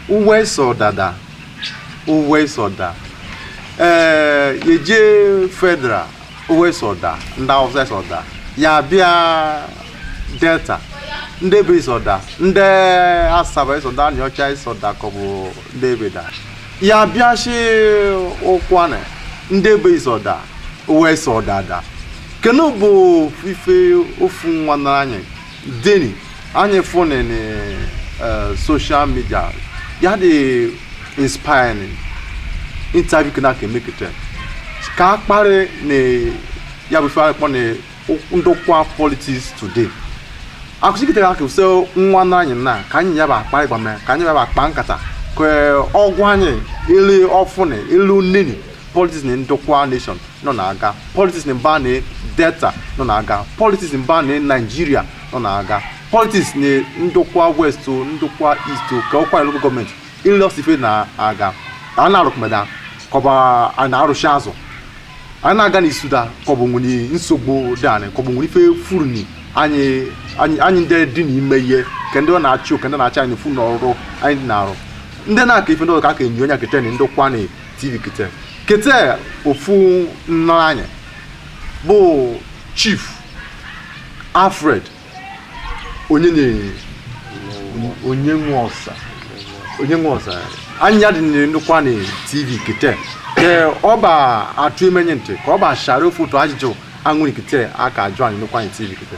uwe sọ dada uwe sọ da ee yeje federal uwe sọ da ndị awụsa sọ da ya bịa delta ndị ebe sọ da ndị asaba sọ da aniocha sọ da ka ọ bụ ndị ebe da ya bịa shi ụkwụanị ndị ebe sọ da uwe sọ dada kenu bụ ife ofu nwanne anyị deni anyị fụnị na eh, social media ya dị inspiring interview kene aka eme kete ka a kparị na ya bụ ife anyị kpọ na ndokwa politics today akụchikịtara aka use nwanne anyị na ka anyị ya ba akparị ịgba mee ka anyị ya ba akpa nkata ka ọ gwa anyị ele ọ fụnị ele o neni politics na ndokwa nation nọ na-aga politics na mba na delta nọ na-aga politics na mba na naijiria nọ na-aga politics na ndokwa west o, ndokwa east o, ka ụkwụanị local government ele o si ife na-aga a na-arụkme da kọbụ a na-arụchi azụ a na-aga n'isu da kọbụ nwere nsogbu dị anyị kọbụ nwere ife furu ni anyị anyị anyị ndị dị n'ime ihe ka ndị ọ na-achị o, ka ndị na-achị anyị furu n'ọrụ anyị dị na-arụ ndị na-aka ife ndị ọzọ ka aka enyi onye aka eche na ndokwa na tv kete kete ofu nna anyị bụ chief alfred onye na onye nwe ọsa onye nwe ọsa anyị ya dị n'ụkwụanị tv kete ke ọ ba atụ emenye ntị ka ọ ba shara ofu otu ajụjụ a nweni kete aka ajụ anyị n'ụkwụanị tv kete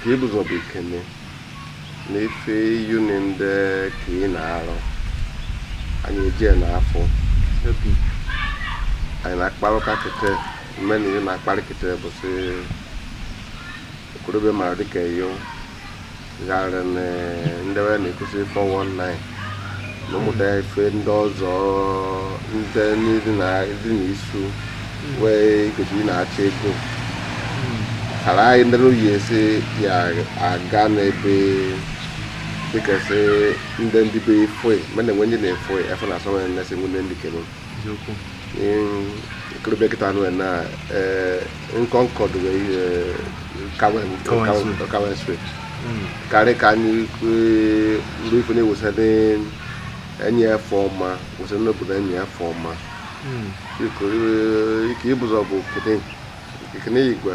ke ibuzọ bụ ikene na ife yuni ndị ka ị na-arụ anyị ejie na afọ obi anyị na-akparụka kete mmeni ị na-akparị kete bụ sị okorobịa mara dịka eyo gharị na ndị we na-ekwusi 419 na ụmụta ya ife ndị ọzọ ndị ndị na ndị na isu wee kwesịrị na-achọ ego kara anyị ndị oyi esi ya aga n'ebe dịkasị ndị ndị be efe mana enwe ndị na-efe efe na asọ nwere nnesi nwunye ndị kere okorobịa kịta nwe na nkọ nkọ dịwe kawen street karị ka anyị ruo ife na-ewesa enyi ife ọma wesa n'obodo enyi ife ọma ke ibuzọ bụ kene igwe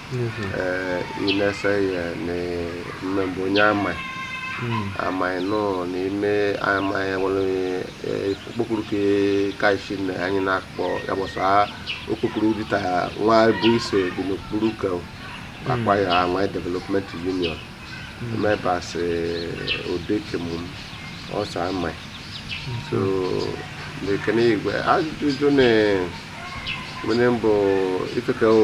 inese ya na mme bụ onye Amai Amai nọ n'ime Amai nwere okpokoro ke kaisi na anyị na-akpọ ya bụ ọsa okpokoro dịta nwa bụ ise dị n'okpuru ka akpa ya nwa development union members odekemu ọsa Amai so lekene igwe ajụjụ na nwere mbụ ifeke o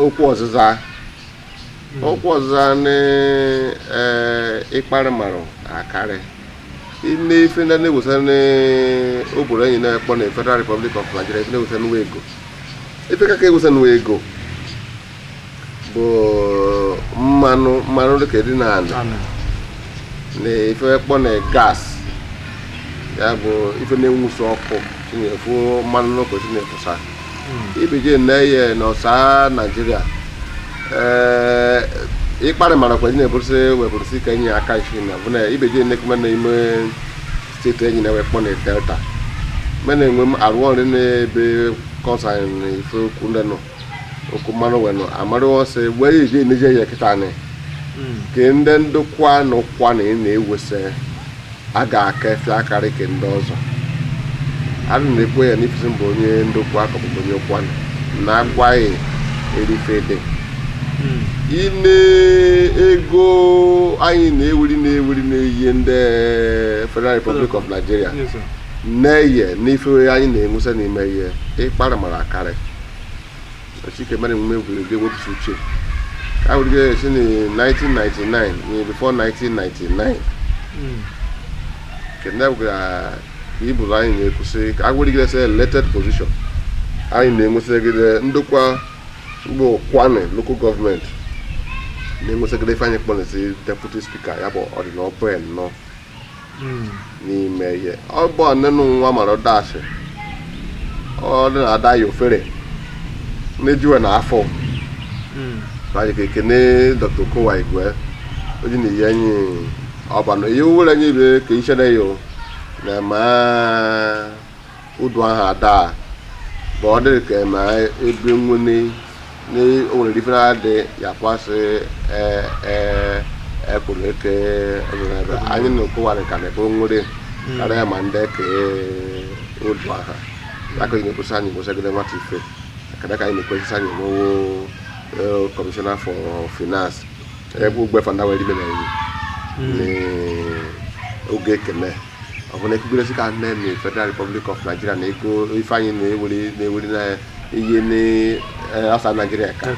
okwu ọzịza okwu ọzịza na ịkparị marụ akarị ime ife ndị na-ewesa n'obodo anyị na-ekpọ na Federal Republic of Nigeria ife na-ewesa nụ we ego ife ka ka ewesa nụ we ego bụ mmanụ mmanụ dịka dị n'anị na ife kpọ na gas ya bụ ife na-enwusa ọkụ chinefu mmanụ n'ọkụ chinefusa ibeje na-eye n'ọsa Nigeria ee ịkparị mara kwa na-eburụsị wepụrụsị ka enyi aka isi na bụ na ibeje na-ekuma na ime steeti enyi na we kpọ na Delta mena enwe m arụ ọrụ n'ebe concern ife okwu ndị nọ okwu mmanụ wenu amarụ ọsọ egbe ya eji emeje ya kịta anyị hmm. ke ndị Ndokwa na Ukwuani na-ewesa a ga-akafe akarị ke ndị ọzọ a na-ekwu ya n'ifi sị m bụ onye Ndokwa ka ọ bụ onye Ukwuani na agwaghị erife dị hmm. ị nee ego anyị na-ewuri na-ewuri na-eyi ndị Federal Republic of Nigeria na-eye n'ife anyị na-ewesa n'ime ihe ịkpara mara akarị Chike mere emume egwuregwu ga-ewepụsị uche ka ahụ dịgara esi na 1999 na before 1999 nke ndị gwara ka Ibori anyị na-ekwusị ka agwụ dịgara esi elected position anyị na-enwesịgide Ndokwa Ukwuani local government na-enwesịgide ife anyị kpọrọ deputy speaker ya bụ ọdịnọbụen nọ n'ime ihe ọ bụ ọnụnụ nwa mara dasị ọ dị na ada ya ofere na-ejuwe na afọ anyị ka ekene Dr Okowa igwe oji na ihe anyị ọba na ihe were anyị ibe ka ichere ya o na ma Uduaghan adaa bụ ọ dịrị ka ma ebe nwene na o nwere ife na-adị ya kwasị ee ee ekwuru eke ebe anyị na-ekwuwarị ka na-ekwe nwere karịa ma ndị ka Uduaghan aka anyị na-ekwusa anyị kwụsagide nwata ife kada ka anyị na-ekwesịsị anyị nwewo Commissioner for Finance ebe ugbe fanda wee ime na enyi n'oge kene ọ bụ na ekpukperesi ka nne na Federal Republic of Nigeria na ego ife anyị na-ewere na-ewere na ihe n'asa Nigeria ka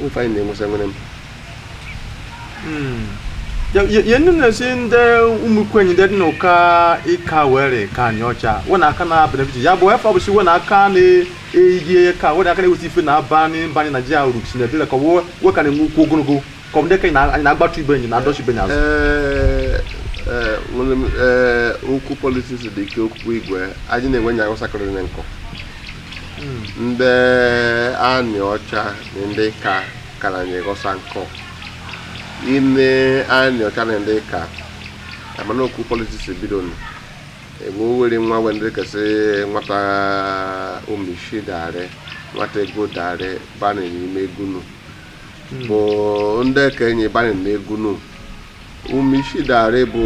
ife anyị na-enwesa nwere m yenu na-esi ndị ụmụkwenyi ndị dị n'ụka ịka were ka Anịọcha wena aka na benefit ya bụ efe ọbụsi wena aka na-eyi ka wena aka na-eweta ife na-aba n'ịbanye Naijiria uru si na ebile ka wo ka na-enwe ukwu ogologo ka ọ bụ ndị ka anyị na- anyị na-agbatu ibe enyi na-adọchi ibe enyi azụ Ee, ee, nwere m, ee, okwu politiks dị ike okwu igwe anyị na-enwe nya ụsakọrọ na nkọ ndị Anịọcha na ndị Ịka kara anyị ghọsa nkọ ime Anịọcha na ndị Ịka mana okwu politiks bido nụ egbe owere nwa wee ndị kasị nwata omishi dare nwata ego dare bana n'ime egwu nụ bụ ndị ekenye banye na egwu nụ ume isi dara bụ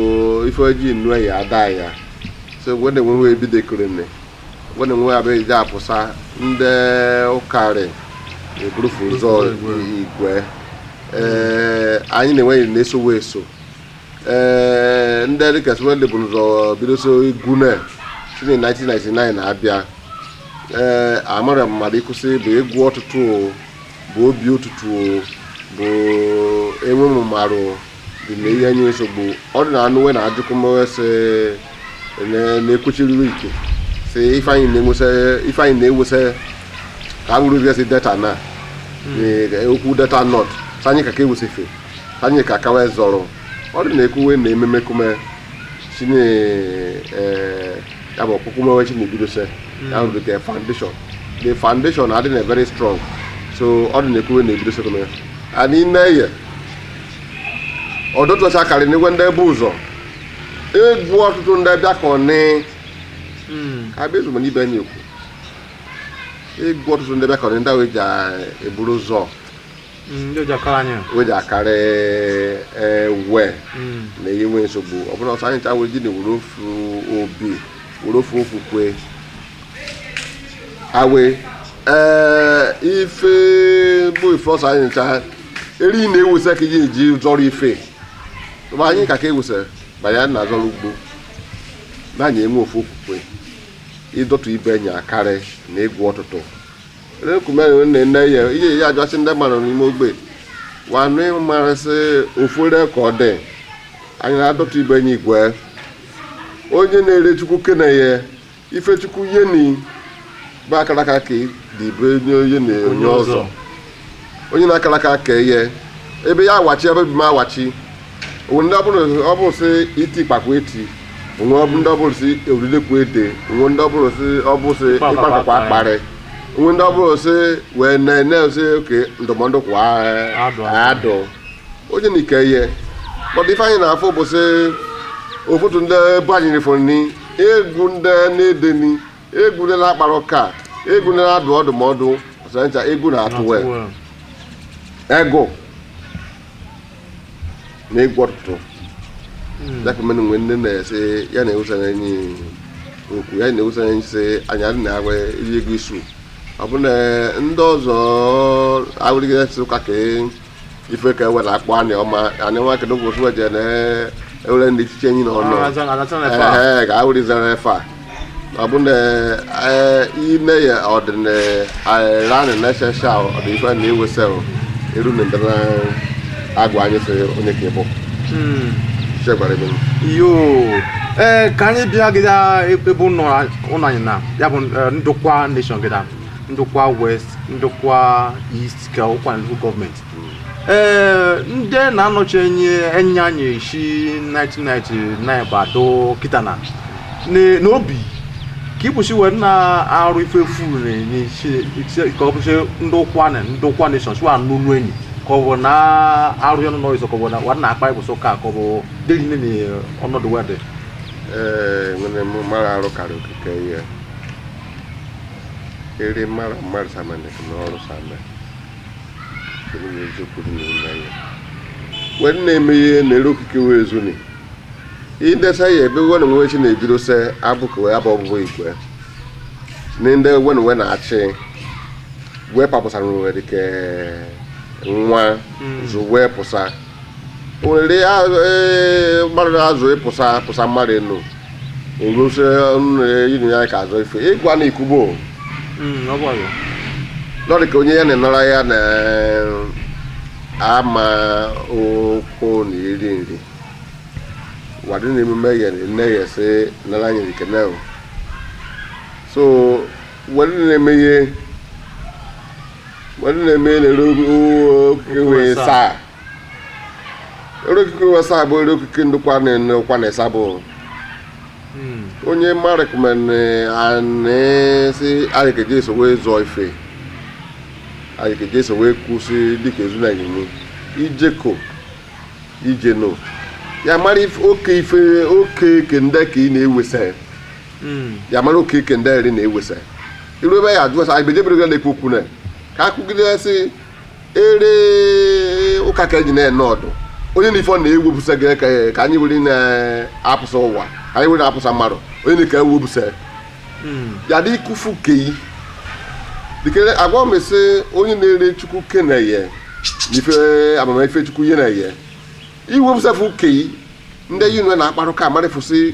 ife ojii nnu ya ada ya so egwe na-enweghị ebidekere ne egwe na-enweghị abịa ije apụsa ndị ụkarị eburufu ụzọ igwe ee anyị na-enweghị na-esowe eso ee ndị dịka swede bụ ụzọ bidoso egwu na si na 1999 na-abịa ee amara mmadụ ịkwụsị bụ egwu ọtụtụ o bụ obi ụtụtụ bụ enwe mmarụ dị na ihe nye nsogbu ọ dị na anụ wee na-ajụkụ m sị na-ekwechiriri ike sị ife anyị na-ewesa ka a bụrụ si Delta na hmm. okwu Delta North ọsa anyị ka ka ewesi ife ọsa anyị ka kawa zọrọ ọ dị na-ekwuwe na ememe kume si na e, ya bụ ọkpụkpụ mewe chi na-ebidose ya bụ the foundation the foundation adị na very strong so ọ dị na-ekwuwe na-ebido sekọnd ya a n'ime ihe ọdụtụcha akarị n'igwe ndị ebe ụzọ egwu ọtụtụ ndị bịa ka ọ nị abịa ezugbo n'ibe anyị ekwu egwu ọtụtụ ndị bịa ka ọ nị ndị ahụ eji eburu ụzọ Mm, ndị o ji akara anyị o ji akara ewe mm. na ihe nwee nsogbu ọ bụla ọsa anyị ncha wee ji na were ofu obi were ofu okwukwe awe ee ife bụ ife ọsa anyị ncha eri na-ewesa ka iji eji zọrọ ife ma anyị ka ka ewesa ma ya na azọrọ ugbo na anyị enwe ofu okwukwe ịdọtụ ibe anyị akarị na egwu ọtụtụ rekumere nne nne ya ihe ya ajọsị ndị mmadụ n'ime ogbe wanụ ịmara sị ofere ka ọ dị anyị na-adọta ibe anyị igwe onye na-ere chukwu kene ya ife chukwu yeni bụ akaraka ka dị ibe onye onye na onye ọzọ onye na-akara aka ka eye ebe ya awachi ebe bi m awachi o nwe ndị ọ bụ sị iti ịkpakwa eti o nwe ndị ọ bụrụ sị eridekwa ede o nwe ndị ọ bụrụ sị ịkpakwa akparị o nwe ndị ọ bụrụ sị wee na-ene sị oke ndụmọdụ kwa adụ onye na ike ihe but ife anyị na-afụ bụ sị ụfọdụ ndị ebe anyị rifụ nri egwu ndị na-ede nri egwu ndị na-akpara ụka egwu ndị na-adụ ọdụmọdụ ọsọ ncha egwu na-atụ wee ego na egwu ọtụtụ hmm. ya ka mmadụ nwee ndị na-ese ya na-ewusara enyi okwu ya na-ewusara enyi sị anyị adị na agwa iri ego isu ọ bụ na ndị ọzọ awụrịgide sị ụka ka ife ka ewere akpọ anị ọma anị nwa kedu ụbọchị weje na ewere ndị echiche enyi na ọnụ ee ga awụrịzara efe a ọ bụ na eh, ime ya ọdịnala eh, na-echecha ọdịnife na iwesa eru na ndị na-agwa anyị sị onye ka ịbụ hmm. chekwara ebe yoo ee eh, ka anyị bịa gịda ebe ụlọ anyị na ya bụ Ndokwa nation gịda Ndokwa West Ndokwa East ka Ụkwụanị local gọọmenti ee ndị na-anọchi enya anyị si 1999 bịadu kịta na n'obi ka ịbụsi wa na-arụ ife efu n'isi ka ọ bụsị Ndokwa nation sọsụ a n'ụlọ enyi ka ọ bụ na arụ ya n'ụlọ ịzọ ka ọ bụ na wa na-akpa ịbụsị ụka ka ọ bụ dịrị nne na ọnọdụ wa dị ee nwere m mara arụ karị okike ihe eri mara mmadụ samanị na ọrụ samanị wee na-eme ihe na-ere okike wee zuni idesa ya ebe wen nwe chi na-ebido se abụkụ ya bụ ọbụbụ igwe na ndị wen nwe na-achị wee papụsara nwere dịka nwa zụ wee pụsa nwere mmadụ azụ ịpụsa pụsa mmadụ enu ngosi inu ya ka azụ ife ịgwa na ikubo lọrị ka onye ya na-enara ya na ama ụkwụ na iri nri wa dị na emume ya nne ya sị nara anyị nke na so wa dị na-eme ihe mmadụ na-eme na-ere okike wee saa ere okike wee saa bụ ere okike Ndokwa na-enekwa na ịsa bụ hmm. onye marikmen anesi anyị keje eso wee zụọ ife anyị keje eso wee kwụsị dịka ezu na nyinye ijeko ijeno ya mara oke ife oke kende ka ị na-ewesa ya mara oke ike ndị eri na-ewesa iru ebe ya ajụ asa anyị bejebere ga na-ekwu okwu na ka a kwugide sị ere ụka ka eji na-ene ọdụ onye na ife ọ na-ewepụsa gị ka ka anyị were na-apụsa ụwa ka anyị were na-apụsa mmadụ onye na ka ewepụsa ya dị ikufu keyi dikere agwa m sị onye na-ere chukwu keneye na ife amamife chukwu ihe na-eye iwepụsafu keyi ndị yi nwe na-akparụ ka amarịfụsị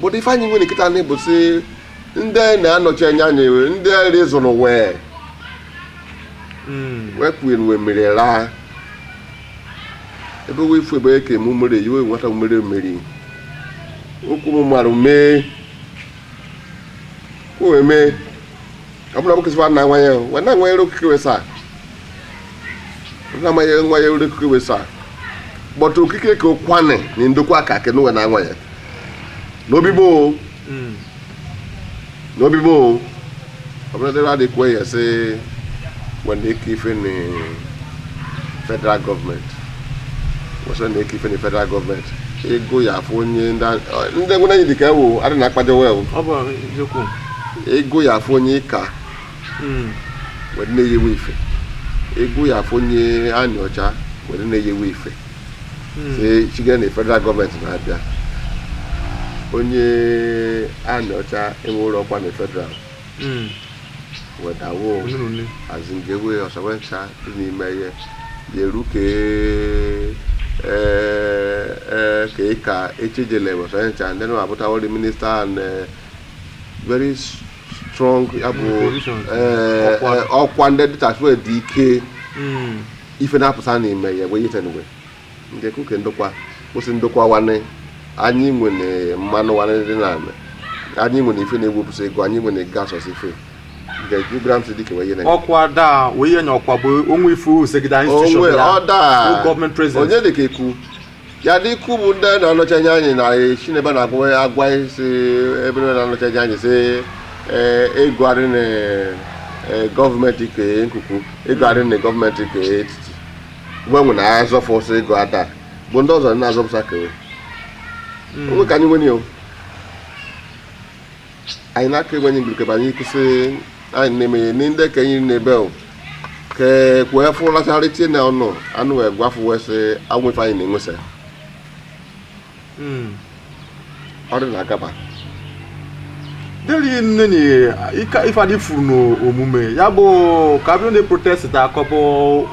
but ife anyị nwere kịta anyị bụ sị ndị na-anọchi anya anyị wee ndị nri zụrụ wee Mm. wee kwuo wee mere laa ebe wee ifu ebe eke eme umere yi wee nwata umere mmeri okwu m mara mee o wee mee ọ bụrụ na nwoke sịkwa na nwa ya wee na-anwanyere okike wee saa na ma ye nwa ye ure okike we sa but okike ke Ụkwụanị ni ndokwa ka ke no we na nwa ye no bi bo Mm. no bi bo abana de radi kwe ye se we na-eke ife na federal government we sa na-eke ife na federal government ego ya afọ onye ndị a- ndị ngwụna yi dịka ewu adị na akpaja wel ọ bụ eziokwu ego ya afọ onye ka hmm. were na-eyewe ife ego ya afọ nye anyị ọcha were na-eyewe ife hmm. si chiga na federal gọọmenti na-abịa onye anyị ọcha enwere ọkwa na federal hmm. wedawo azingewe ọsawe ncha dị n'ime ihe ya eru ka ka ka ndị na-abụtawori minista and eh, very strong ya bụ eh, eh, ọkwa ndị dịchasịwe dị ike hmm. ife na-apụta n'ime ya wee yitenwe ndị kuke ndokwa kwụsị ndokwa wane anyị nwere mmanụ wane dị na anyị nwere ife na-ewepụsa ego anyị nwere gas ọsọ ife ọkwa daa wee nye ọkwa bụ onwe ife usegide institution ya gọọmenti president onye dị ka ekwu ya dị ikwu bụ ndị na-anọchi anya anyị na esi n'ebe na-agwa ya agwa anyị si ebe na na-anọchi anya anyị si ee ego adị na ee, gọọmenti ke nkuku ego adị na gọọmenti ke etiti gbanwe na-azọfọsị ego ada bụ ndị ọzọ na-azọpụsa kewe onwe ka anyị nwere ya o. anyị na-aka egwe anyị gbirikebe anyị kwụsị anyị na-emenye ni ndị ka anyị na-ebe o ke kwuo efu lachara itie na ọnụ anụ wee gwafu wee sị anwụ ife anyị na-enwesa Mm. ọ dị na agaba deli nne ni ika ife adị furu n'omume ya bụ ka abịa ndị protest ta akọpụ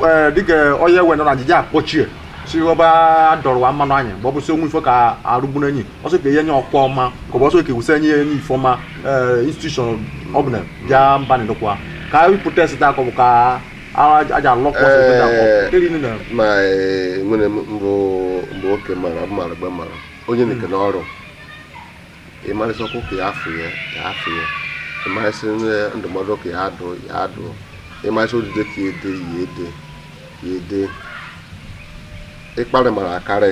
ee dịka onye wena na ajịja akpọchie si ọba dọrọwa mmanụ anyị ma ọ bụ si onwe ife ka arụgburu enyi ọsọ ka enye ọkwa ọma ka ọ bụ ọsọ ka ewusa enye ya enye ife ọma institution ọbụla bịa mba na-edokwa ka anyị protest taa ka ọ bụ ka a- aja alọkwa ọsọ ebe na Eh. keri nne na ma eh, nwere m mbụ mgbe oke mara mara mgbe mara onye na-eke n'ọrụ ịmarịsị ọkụ ka ya afụ ya ya afụ ya ịmarịsị nne- ndụmọdụ ka ya adụ ya adụ ịmarịsị odide ka ya ede ya ede ya ede ịkparị mara akarị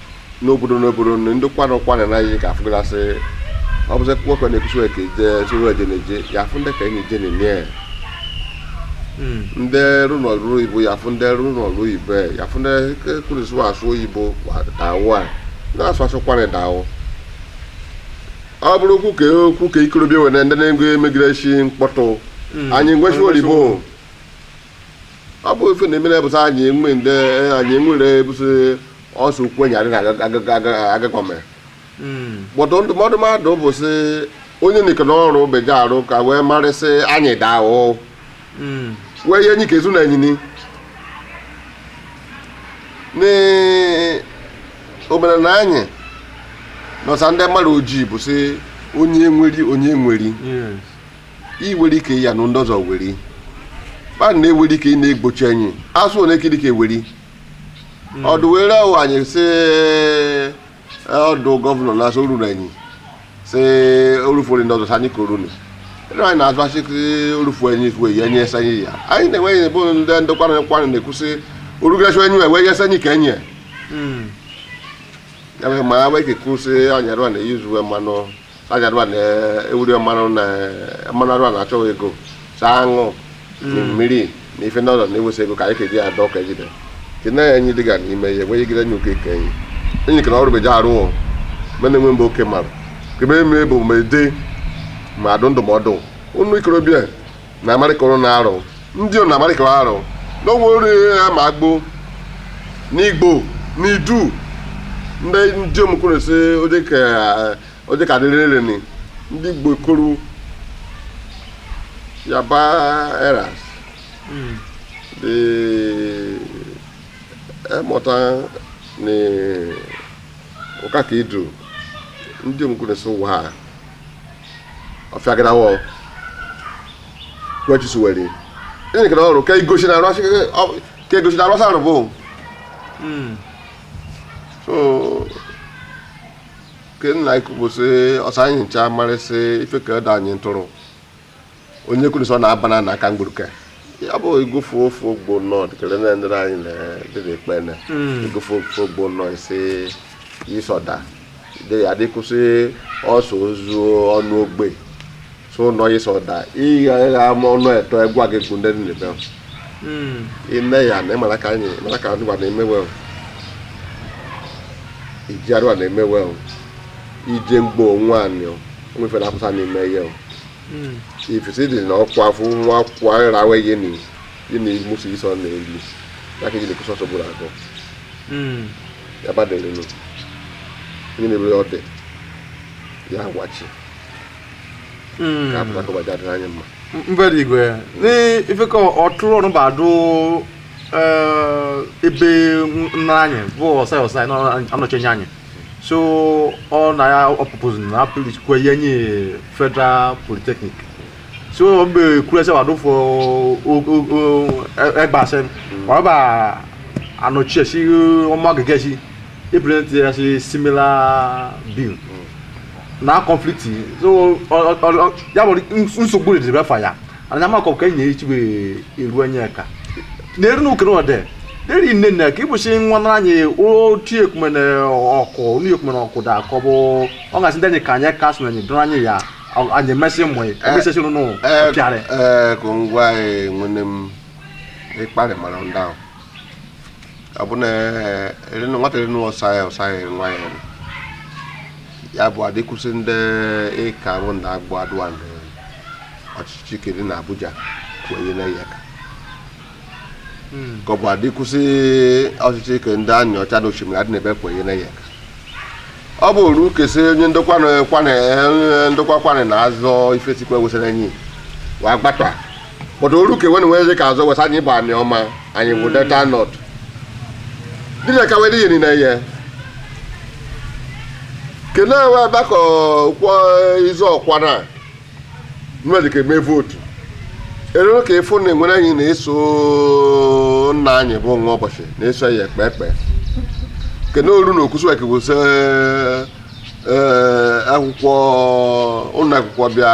n'obodo n'obodo na ndị kwana kwana na anyị ka afụgasị ọ bụzị kwekwe na ekwusi ka ije soro eje na eje ya afụ ndị ka enyi je na-enye ya ndị rụ na ọrụ oyibo ya afụ ndị rụ na ọrụ oyibo ya ya afụ ndị kwurịsị asụ oyibo dawo a na-asụ asụ kwana dawo ọ bụrụ okwu ka okwu ka ikorobịa were ndị na-ego emegide isi mkpọtụ anyị ngwesi oyibo ọ bụ ife na-emere bụsị anyị enwe ndị anyị enwere bụsị ọsọ ukwu enyi adị na-agakwa mere kpọtụ hmm. ndụmọdụ mmadụ bụ sị onye na-eke n'ọrụ beje arụ ka wee marịsị anyị dawo hmm. wee ihe enyi ka ezu na enyini n'omenala anyị nọsa ndị mmadụ ojii bụ sị onye nweri onye nweri iwere ike ya na ndị ọzọ weri mmadụ na-ewere ike ị na-egbochi anyị asụ onye ka eweri ọdụ wee rịọ anyị sị ọdụ gọvanọ na-asị oruru anyị sị orufori ndị ọzọ anyị koro ni ere anyị na-azụ asị orufu anyị ifu eyi enye esa anyị ya anyị na-enweghị ebe ndị ndokwa na nkwa na-ekwusị orugasị enyi wee yesa anyị ka enyi ya ya bụ ma ya wee kekwusị anyị arụ na izu mmanụ agadwa na ewuri mmanụ na mmanụ arụ a na-achọghị ego saa aṅụ mmiri na ife ndị ọzọ na-ewesa ego ka anyị keji adọ ka ejide ke na enyi dịga n'ime ya wee gide nye oke ka enyi ka na ọrụ beja arụ o mena enwe mgbe oke mara kebe eme bụ ma ede ma adụ ndụmọdụ unu ikorobịa na amarịka ọrụ na-arụ ndị ọ na amarịka ọ arụ na onwe ori ya ma agbo n'igbo n'idu ndị ndị omukwuru si oje ka oje ka dịrị nri ni ndị igbo koro yaba eras dị emụta na ụka ka idu ndị omukwuru si ụwa a ọfịagara wọ wechisu were ịnị kere ọrụ ka igosi na arụ asị ka igosi na arụ asị arụ bụ hmm. so ke nna ikwubụsị ọsọ anyị ncha marịsị ife ka ede anyị ntụrụ onye kwuru sọ na-aba na aka mgburuke ya bụ ịgụfe ofe ogbo nnọọ dịkere na ndị anyị na-edere ekpe na ịgụfe hmm. ofe ogbo nnọọ isi ịsọda adịkwụsị ọsọ ozu ọnụ ogbe so nọ ịsọda ịgha ịgha ama ọnụ eto egwu gị gụ ndị nile bịa hmm. ime ya na ịmara ka anyị mara ka ndị gwa na-emewe iji arụwa na-emewe ije mgbe onwe anyị nwefe na apụta n'ime ihe hmm. ifesi dị na ọkwa afọ nwa akwụkwọ anyị rawe ihe na ihe na musu iso na elu ya ka ejide kwụsọ sọgburu akọ hmm. ya badelenu onye na-ebere ọdị ya agwachi hmm. ka apụta ka ụbọchị adịrị anyị mma mbere igwe n'ife ka ọtụrụ ọrụ ba adụ eh, ebe nna anyị bụ ossai ossai anọchi enya anyị so ọ na ya ọ propose na appeal kwe ye nye federal polytechnic so mgbe kure se wa do fo ẹgba se wa ba anochie si omo-agege si e present ya si similar bill na conflict so ọ ọ ọ ya bụ nsogbu dị ebe fa ya ana m akọ ka enyi echi bụ eru anya ka na-eru n'oke na ọdị deri nne nne ka ịbụchi nwa na anyị otu ekumene ọkụ onu ekumene ọkụ da akọ bụ ọ gasị ndị anyị ka anyị ka sụ na anyị dụrụ anyị ya ọ- anyị emesị mmụ ya emesịsị nụ pịarị ee ka ngwa anyị nwene m ịkparị mara ndị ahụ abụna erinu nwata erinu ọsa ya ọsa ya nwa ya ya bụ adịkwụsị ndị ika bụ ndị agbọ adụa ndị ọchịchị kene na abuja kwenye na ya ka ka ọ bụ adịkwụsị ọchịchị ke ndị aniocha na oshimili adị n'ebe kwenye na ya ka ọ bụ oru kesi onye ndokwa ukwuani na azọ ifesikwa wesara enyi wa gbata but oru ka wen wezi ka azọ wesa anyị bụ anioma anyị bụ delta north dị na kawere ihe niile ihe kene ewe ebe ka kwọ izu ọkwa na mmadụ ka eme vote erere ka ịfụ na enwere anyị na-eso nna anyị bụ nwaoboshi na-eso ya ekpe ekpe kene oru na okwusu eke wụsị akwụkwọ ụlọ akwụkwọ bịa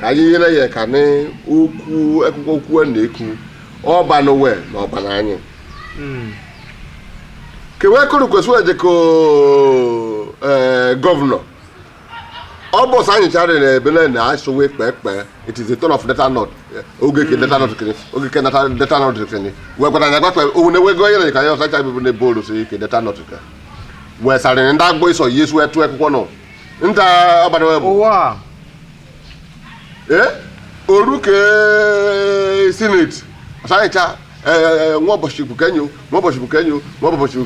ka anyị nyere ya ka na okwu akwụkwọ okwu a na-ekwu ọba n'ụwa na ọba na anyị kewe kụrụ kwesịrị eje ka ee, gọvanọ ọ bụ sọ anyị chara na ebe na asụwe kpekpe it is the turn of delta north oge ke delta north kene oge ke delta delta north kene wee gwara ya gbakpe owu na wego yere ka ya ọsa cha bibụ na ebe olu si ke delta north ka wee sarị ndị agbọ iso yesu etu akwụkwọ nọ nta abalị wee bụ ụwa a ee oru ka Senate ọsanyịcha ee Nwaoboshi bụ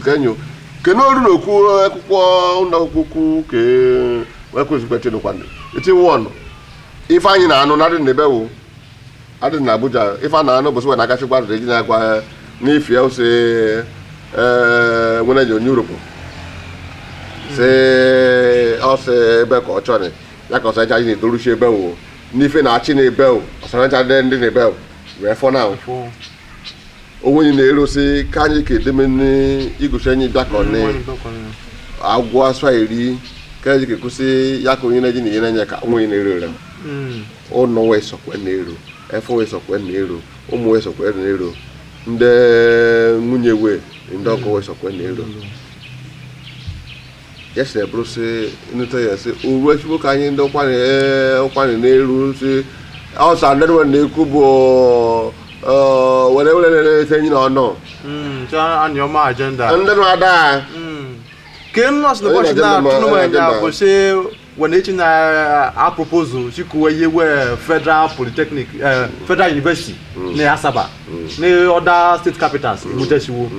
kenyo kene oru na okwu akwụkwọ ụlọ akwụkwọ ukwu ka ekwezikwa chenekwanụ eti wọnụ ife anyị na-anụ na adị na ebe wụ adị na Abuja ife a na-anụ bụsị wee na-agachikwa adịrị gị na-agwa ha n'ifie ose ee nwere ji onye Urhobo si ọsị ebe ka ọ chọrị ya ka ọsara chaji na-etoruchi ebe o n'ife na achị na ebe o ọsara chaji ndị na ebe o wee fọ na onwe anyị na-erosi ka anyị ka edeme n'igụchi anyị bịakọ na agwọ asụ eri ka anyị ga-ekwụsị ya ka onye na-eji na ihe na-enye ka onwe anyị na-ero ere ụnọ wee sọkwe na-ero efe wee sọkwe na-ero ụmụ wee sọkwe na-ero ndị nwunye wee ndị ọkụ wee sọkwe na-ero ya sịrị bụrụ sị nụta ya sị uru echigbo ka anyị ndị Ukwuani ee Ukwuani na-eru sị ọsa ndị nwe na-ekwu bụ ọ, were were na-ete enyi na ọnụ Mm, so anyị ọma agenda ndị nwe ada Mm. ka nnọọsụ Onye ụbọchị na-adị mma, na-atụnụ m onye na-adị anya mma. bụ sị When echi na a proposal chikuwe ihe wee federal polytechnic eh, federal university na Asaba na other state capitals ebutechiwo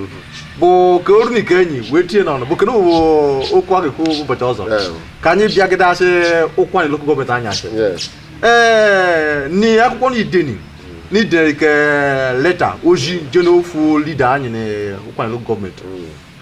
bụ ka oru na ike enyi wee tinye n'ọnụ bụ kedu bụ okwu a ga-ekwu ụbọchị ọzọ Yeah. ka anyị bịagide achị Ukwuani local government anyị achị Yes. ee ni akwụkwọ na ideni na ideni ke letter oji je n'ofu leader anyị na Ukwuani local government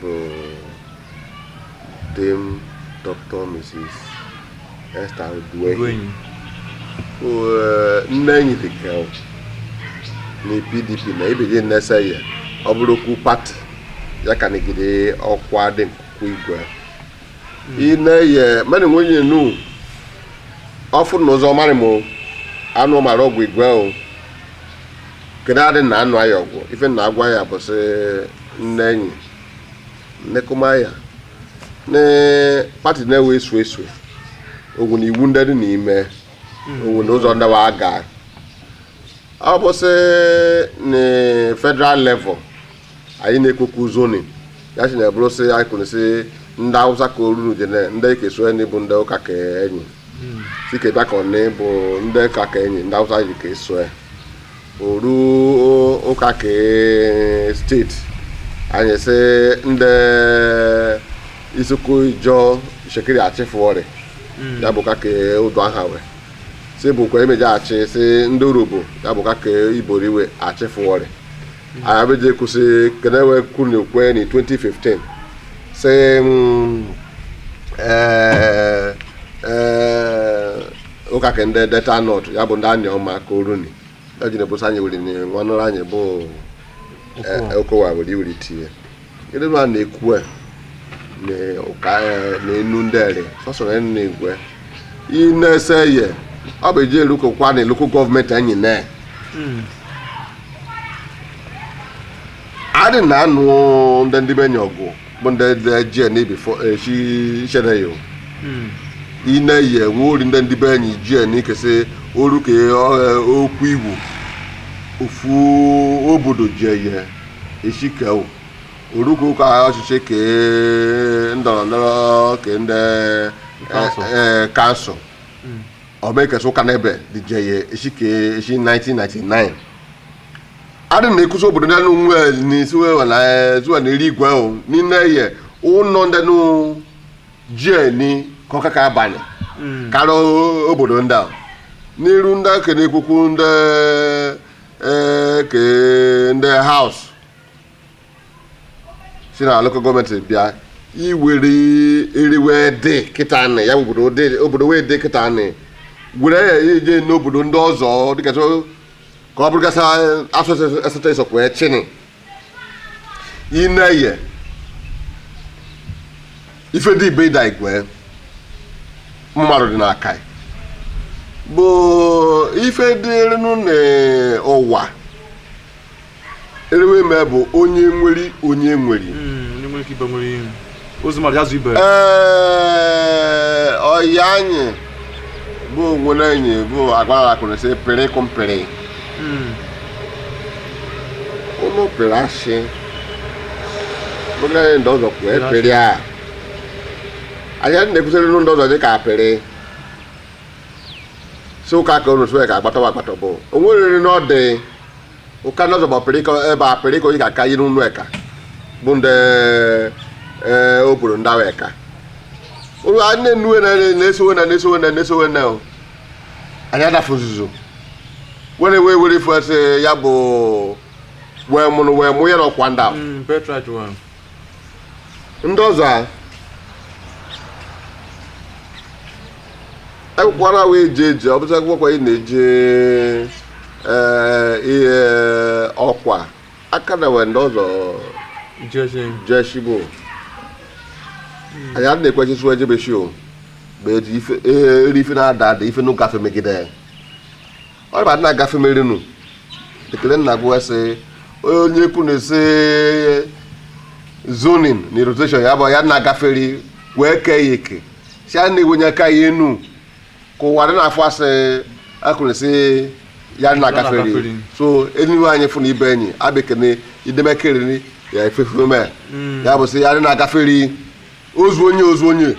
bụ Dame Dr. Mrs. Esther Uduehi nne enyi dị ka na PDP na ibidi nnesa ya ọ bụrụ okwu party ya ka negide ọkwa dị nkụkụ igwe ine ye mmadụ nwunye nu ọfụ na ụzọ marị m anụ mara ọgwụ igwe o kedu adị na anụ aya ọgwụ ife na agwa ya bụ sị nne enyi nnekomaya na party na-ewe esu esu ogwu na iwu ndị dị n'ime ogwu na ụzọ ndị wa aga ọ bụ sị na federal level anyị na-ekwekwu zoning ya si na ebụrụ sị anyị kwuru sị ndị Awụsa ka oruru jene ndị ike so enyi bụ ndị ụka ka enyi si ka bịakọ na bụ ndị ụka ka enyi ndị Awụsa ji ka eso ya oru o- ụka ka state anyị sị ndị Isoko Ijọ Shekiri achịfụọrị ya bụ ka ka Uduaghan wee si bụkwa emejaghachi si ndị Urhobo ya bụ ka ka Ibori we achịfụọrị Abidjan kwụsị Kenewe kwuru kwe na 2015 sị mm, eh, eh, ụka ka ndị Delta North ya bụ ndị Anioma ka o runi ejina bosa anyị were nwanne anyị bụ eh, Okowa were iwere tinye Gịnị ma na-ekwu e, na ụka ya na enu ndị ere sọsọ na enu na-egwe ị na-ese ye ọ bụ eji eluko kwa na local government anyị na adị na anụ ndị ndị be enyi ọgụ bụ ndị ndị ji na ibifo echi chere ya o. ị na-eyi enwe ori ndị ndị be enyi ji na ikesị oru ka ọ- okwu igbo ofu obodo ji eye Eshikeu oruko ka ọchịchị ke ndọrọ ndọrọ ke ndị council. eh, council ọmekesa ụka n'ebe dije ya echi ke echi 1999 adị na ekuzi obodo ndị nwe n'isi wewe na eh, zuwa na eri igwe o n'ime ye ụlọ ndị nụ jie ni ka ọka ka abalị karịa obodo ndị a n'iru ndị aka na-ekwukwu ndị ee ka ndị House si na local government bịa iwere eriwe dị kịta anị ya bụ obodo dị- obodo wee dị kịta anị were ya ije n'obodo ndị ọzọ dịka so ka ọ bụrụgasị asụsụ esote esokwe chini ineye ife dị ibe ịda igwe mmadụ dị n'aka ya bụ ife dịrịnụ n'ụwa erewe ime bụ onye nweri onye nweri Mm, onye nwere ike ibe nwere ihe Ozumọrịa azụ ibe ee ọyị anyị bụ onwere enyi bụ agwara akụrụ sị pịrị kụ mpịrị ụlọ pịrị asị bụgara ndị ọzọ kwuo epịrị a anyị adị na-ekwusịrị ndị ọzọ dị ka apịrị si ụka ka unu sụọ ya ka agbatawa agbata bụ onwerịrị n'ọdị ụka ndị ọzọ bụ ọpịrịkọ ebe apịrịkọ ị ga-aka yiri ụlọ eka bụ ndị ee obodo ndị ahụ eka ụlọ a nne nnuwe na na-esowe na na-esowe na na-esowe na o. anyị adafụ nzuzo were wee were ife sị ya bụ wee mụrụ wee mụ ya na ọkwa ndị ahụ ndị ọzọ a ekwukwara wee eje eje ọ bụcha akwụkwọ ị na-eje ee, ihe ọkwa aka na wee ndị ọzọ jeshibo anyị a na-ekwechisi wee jebe shi o bụ eji ife- ee, eri ife na-ada ada ife n'ụka fe megide ya ọ ba na-agafe merinu ekele nna gwa sị onye kwu na-ese zoning na rotation ya bụ ya na-agafere wee kee ya eke si a na-ewenye aka ya enu ka wa dị na-afụ asị akụ na-esi ya na-agafere na-agafere. so enyi wee fụ na ibe enyi abekene idemekeriri ya efefe mee ya bụ sị ya dị na-agafere ozu onye ozu onye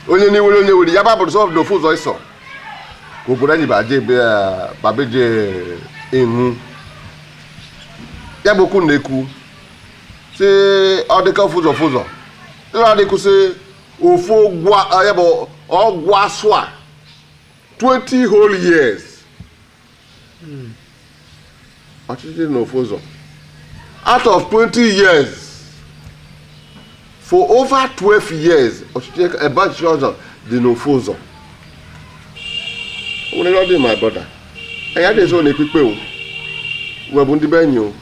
onye na-ewere onye were ya babụrụ sọ na ofu ụzọ ịsọ obodo anyị babeje ihu ya bụ okwu na-ekwu sị ọ dịka ofu ụzọ ofu ụzọ ịra adịkwu sị ofu ya bụ ọgụ asụa 20 whole years ọchịchị dị n'ofu ụzọ out of 20 years for over 12 years ọchịchị ebe ọchịchị ọzọ dị n'ofu ụzọ o nwere ọ dị my brother anyị adịghị so na-ekpe ikpe o wee bụ ndị be enyi o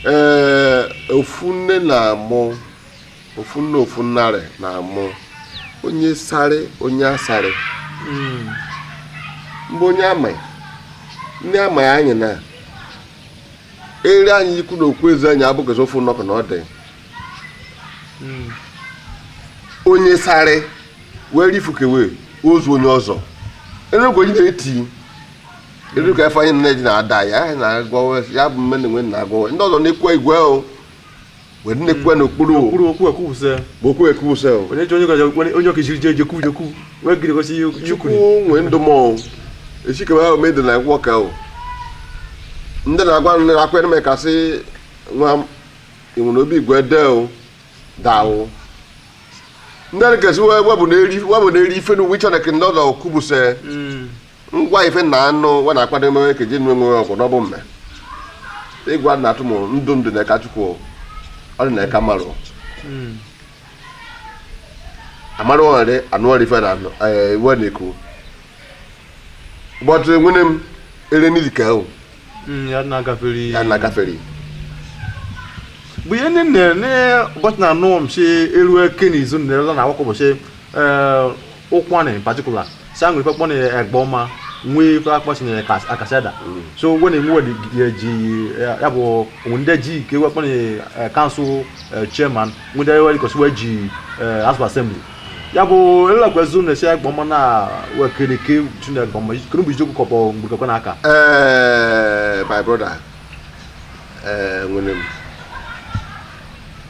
ee ofu nne na-amụ ofu nne ofu nnarị na-amụ onye sarị onye asarị hmm. mgbe onye amaghị ndị amaghị anyị na-eri anyị ikwu na okwu ezi anyị abụghịzi ofu nnọkọ na ọ dị hmm. onye sarị wee rifukewe ozu onye ọzọ enugwu onye na-eti elu ka Ifeanyi nne ji na-ada ya na-agwa ya bụ mme na enwe na-agwa ndị ọzọ na-ekwe igwe o wee nnekwu n'okpuru okwu ekwusa bụ okwu ekwusa onye ji onye gaja onye okechiri je je kwuje kwu wee gịrị gosi ihe ihe chukwu kwuru nwee ndụ mọnwụ echikebe ahụ mede na agwọ ka o ndị na-agwa ndị na-akwa eneme kasị nwa m ịnwere obi igwe de o dawụ ndị na-ekesi webụ na-eri ife n'uwe chineke ndị ọdọ kwubuse ngwa ife na anụ wa na-akwado emewe ka ji nwe nwe ọgwụ n'ọbụ mme ịgwa na atụ m ndụ ndụ na-eka chukwu ọ dị na-eka mmarụ amarụ ọrị anụ ọrị ife na anụ ee, iwe na-ekwu bọtụ nwene m ere n'izi ka ahụ Mm, ya na-agafere ya na-agafere bụ ihe ndị nne ne ụbọchị na anụ m si eru eke na izu nne ọzọ na akwụkwọ ụbọchị Ụkwụanị in particular sa nwere ife kpọna egbe ọma nwee ife akpọsi na Akashiada so when enwe ji ya bụ ndị ji ike wee kpọna council chairman ndị wee kosi wee ji house of assembly ya bụ elelakwazi na esi egbe ọma na wekere ike tuna egbe ọma kere bụ ijiokwu kọpọ mgbe kekwe n'aka Eh, my brother eh, nwere m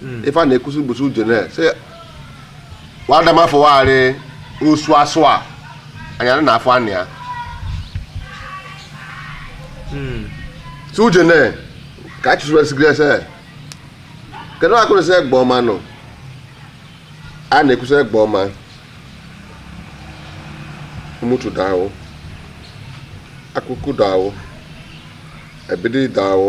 hmm. ife a na-ekwusi bụ sị ujene si wadamafụwagharị osu asụa anyara na afọ anị ya hmm. si ujene ka a chụsụresigrị ese kedu akụrụ sị egbeoma nọ a na-ekwusi egbeoma umutu dawo akoku dawo ebedei dawo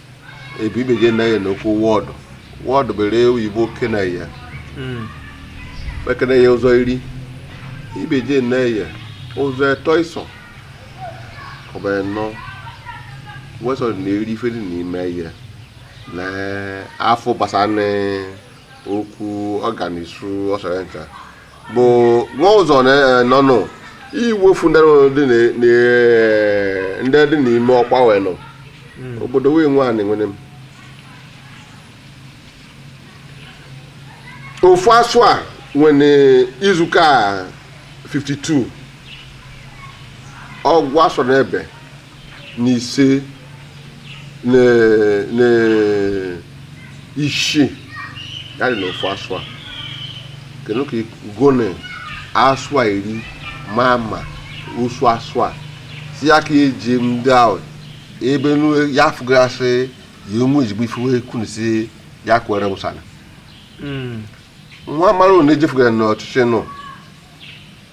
ebe ibeje na ya n'okwu ward ward bere oyibo kene ya hmm. ekene ya ụzọ iri ibeje na ya ụzọ etọ ịsọ ọbara nnọọ wesọ na eri ife dị n'ime ya na afọ gbasara okwu ọganisu ọsọrọ ncha bụ nwa ụzọ nọnụ iwefu ndị dị n'ime ọkwa wee nọ hmm. obodo wee nwe anị nwere m ofu asụa nwere izuka 52 ọgwụ asụa n'ebe na ise na isii ya dị n'ofu asụa kene ka gone asụa iri ma ma osu asụa si ya ka eji ndị ahụ ebe nu ya fụgasị ya enwe ezigbo ife wee kwunu si ya kwere wụsana nwa mara na ejefugara n'ọchịchị nọ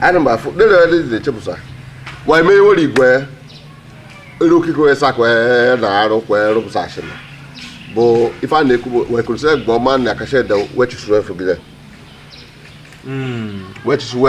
ana m afụ dere ya dị chepụsa ma eme iwere igwe ere okike wee sakwa na arụ kwa rụpụsa ashịna bụ ife a na-ekwu wee kwuru sị egbeoma na akashiada wechisuru efu gị wechisuru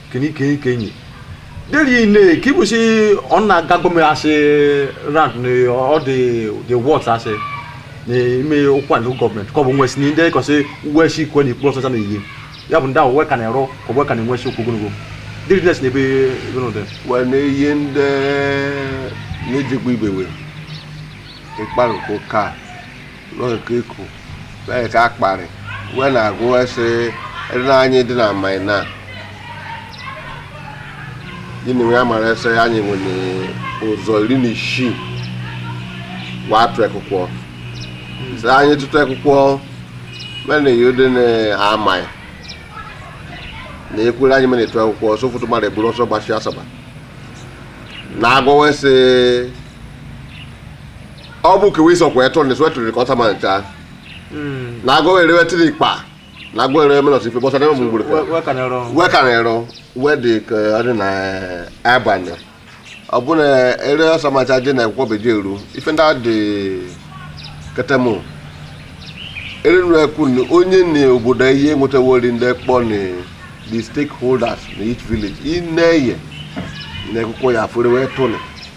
kenike kenyi deri ne ki bu si ona gago me ase rand ni all the the words ase ni ime okwa ni government ko bu nwesi ni nde ko se wesi ko ni plus sana yi ya bu nda we kan ero ko we kan nwesi ko gunugo deri nes ne be no de wee na ihe ndị na-ejekwa ibewe ịkparịkọ ka n'oke iku na-eke akparị wee na-agụ ese ere anyị dị na amai na gịnị wee mara ese anyị nwere ụzọ iri na isii wee atụ akwụkwọ sị anyị tụtụ akwụkwọ mena ihe dị na amai na ekwere anyị mere etu akwụkwọ ọsọ ụfọdụ mmadụ eburu ọsọ gbashi asaba na agwọwa ese ọ bụ ka wee sọkwa eto ndeso eto ka ọsa ma ncha na agụ erewe tiri kpa na agụ erewe menọs ife bọsa n'ebe m gburu ka wee ka na-ero wee dị ka ọ dị na abalị ọ bụ na ere ọsa ma ncha dị na akwụkwọ beji eru ife ndị a dị ketemu ere nụ ekwu na onye na obodo ihe nwetawori ndị kpọ na the stakeholders na each village ị na-eye na ekwụkwọ ya afụrụ wee tụnụ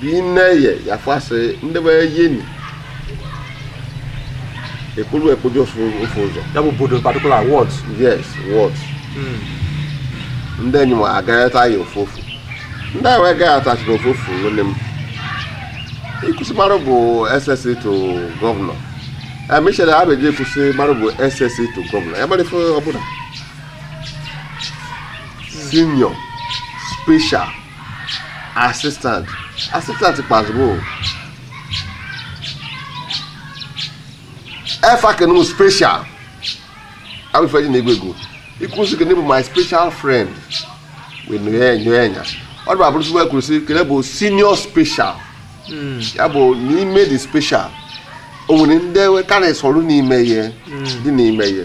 Bineye yafasị ndị be yeni ekpolu ekpoju ofu ofu ụzọ Ya bụ obodo particular ward. yes ward ndị enyi m agagharịta ya ofu ofu ndị anyị wee gaghachachiri ofu ofu nwunye m i kwu sị mmarụ bụ SSA to gọvanọ emichere ha beji ekwu sị mmarụ bụ SSA to gọvanọ ya mara ife ọbụla senior special assistant assistant kpazụrụ o efa kene m special abụ ife e ji na-egwu egwu i kwu sị kene bụ my special friend wee nyoe nyoe nya ọ dịba abụrụ sịwa kwuru sị kene bụ senior special ya bụ n'ime the special o nwere ndị karịsị ọrụ n'ime ihe dị n'ime ihe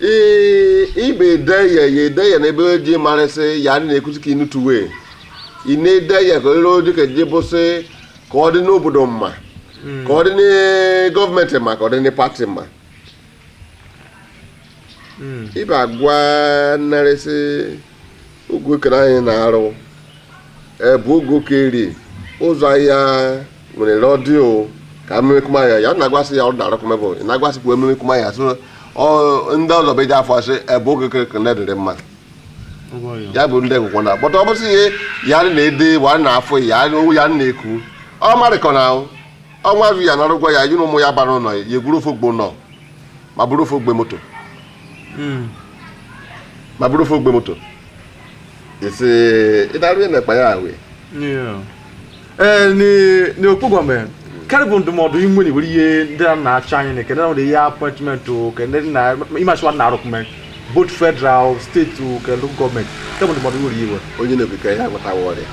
Ee, ibe ede ya ya ede ya n'ebe o ji marịsị ya adị na-ekwuzi ka inutuwe ị na-ede ya ka ere oji ka ji bụsị ka ọ dị n'obodo mma ka ọ dị na gọọmenti mma ka ọ dị na pati mma ibe agwa narịsị ogokere anyị na-arụ ebe ogokeri ụzọ ahịa nwere rọdịo ka mmekuma ya ya na-agwasị ya ọ dara kụmebụ ị na-agwasịkwa ememekuma ya so ọ- ndị ọzọ beji afọ asị ebe ogokere ka na-edere mma ya bụ ndị ngwụkwọ na bọta ọ bụsị ihe ya na ede wa na afọ ya owu ya na eku ọ marịkọ na ahụ ọnwa azụ ya na arụgwọ ya yi na ụmụ ya bara ụlọ ya egwuru ofe ọgbọnọ ma bụrụ ofe ogbe moto hmm. ma bụrụ ofe ogbe moto esi ịdarụ ya na-ekpa ya ahụ ee n'okpu gọọmenti karị bụ ndụmọdụ inwe na iwere ihe ndị a na-achọ anyị na ekene nwere ihe appointment ke ndị na ịmachiwa na-arụ gọọmenti both federal state ke local gọọmenti nke bụ ndụmọdụ nwere iwe onye na-ekwuka ya agwatawa ọrịa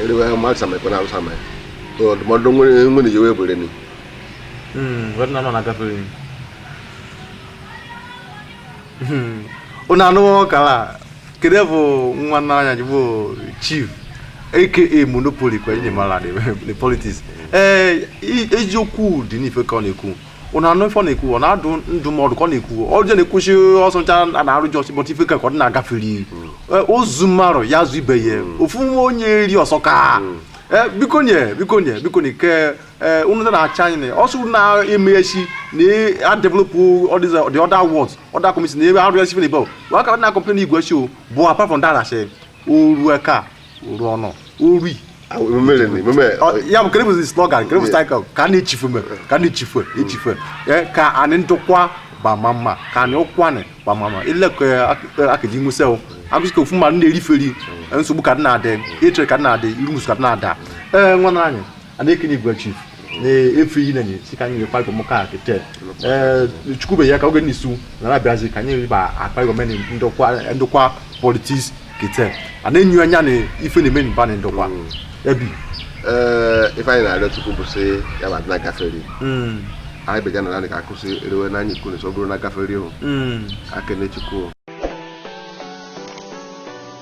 eriwe mmadụ samekwe na arụsama ndụmọdụ nwere iwe bụrụ ni hmm, wee na nọ na gafere Hmm. unu anụghị ọkara kedu bụ nwa nna anyị ji bụ chief aka monopoly ka onye mara the politics ee eziokwu dị n'ife ka ọ na-ekwu ụna anụ ife ọ na-ekwu ọ na-adụ ndụmọdụ ka ọ na-ekwu ọ je na-ekwuchi ọsọ ncha a na-arụ ji ọsị but ife ka ọ dị na-agafere ozu mmarụ ya zụ ibe ya ofu nwa onye eri ọsọ ka biko nye biko nye biko nye ke ee unu na-achụ anyị na ọsọ na-eme echi na adevelopụ the other wards other community na ebe arụ ya sifere bel wa ka na complain igwe echi o bụ apart from that ashe oru eka oru ọnụ ori ya bụ kere bụzi slogan kere bụ style ka na echifume ka na echifu echifu ka anị Ndokwa bama mma ka anị Ụkwanị bama mma ilekọ akaji nwụsị o agụsị ka ofu mmadụ na-eriferi nsogbu ka dị na-adị ịchịrị ka dị na-adị iru musu ka dị na-ada ee nwanne anyị a na-ekene igwe chief na efe iyi nenye si ka anyị kparịkọ mụka kete chukwu be ya ka oge n'isu na na-abịazi ka anyị ba akparịkọ meni ndokwa politics kete a na-enyo anya na ife na-eme mba na ndokwa ebi ee ife anyị na-arịọ chukwu bụ sị ya ma na gafere anyị bịaja na nanị ka akụsị erewe n'anya ikwu n'ụsọ bụrụ na gafere ihu ekene chukwu